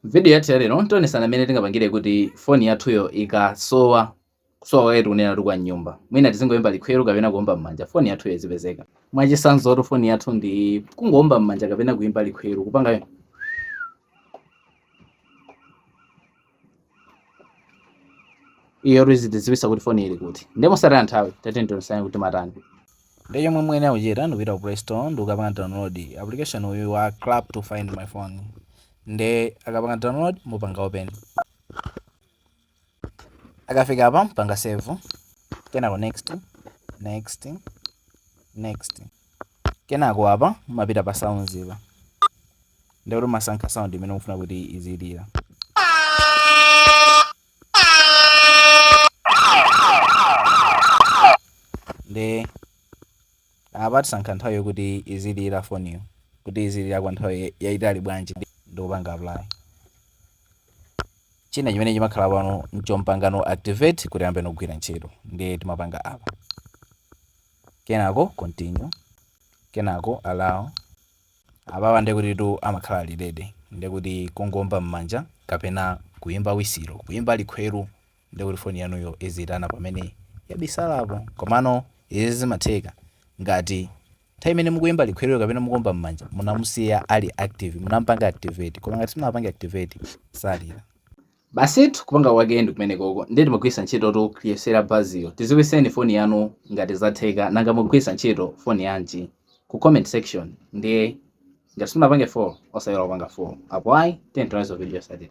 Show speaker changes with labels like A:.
A: M'vidiyo yathu ya lero, tionetsana mmene tingapangire kuti foni yathuyo ikasowa, kusowa kwake tikunenatu kwa m'nyumba, mwina tizingoimba likhweru kapena kuomba m'manja, foni yathuyo izipezeka. Mwachitsanzotu foni yathu ndi iyi, kungoomba m'manja kapena kuimba likhweru, kupanga iyotu izitidziwitsa kuti foni ili kuti. Ndiye mosataya nthawi, tatiyeni tionetsane kuti timatani. Nde chomwe muyenera kuchita ndikupita ku play store ndikukapanga download application uyu wa clap to find my phone nde mukapanga download mupanga open mukafika apa mpanga save kenako next next next kenako apa mapita pa sounds apa ndikuti masankha sound imene mufuna kuti izilira nde apa tisankha nthawi yokuti izilira foniyo kuti izilira kwa nthawi yayitali bwanji ndikupanga apply china chimene chimakhala pano nchompangano activate kuti ayambeno kugwira ntchito ndiye timapanga apa kenako continue kenako allow Apa ndekutitu amakhala ali ready ndekuti kungoomba mmanja kapena kuimba wisilo, kuimba likhweru ndekuti foni yanuyo iziitana pamene yabisalapo. Komano izi zimatheka ngati nthawi imene mukuimba likhweruyo kapena mukuomba mmanja munamusiya ali active, munamupanga activate. Koma ngati simunamupange activate salira. Basitu kupanga kwake ndi kumenekoko ndiye timagwirisa ntchitotu kuyesera buzzeryo. Tiziwiseni pa foni yanu ngati zatheka nanga mukugwirisa ntchito foni yanji ku comment section ndiye ngati simunapange follow osaiwala kupanga follow apo ayi tiyeni tionane mu video yotsatira.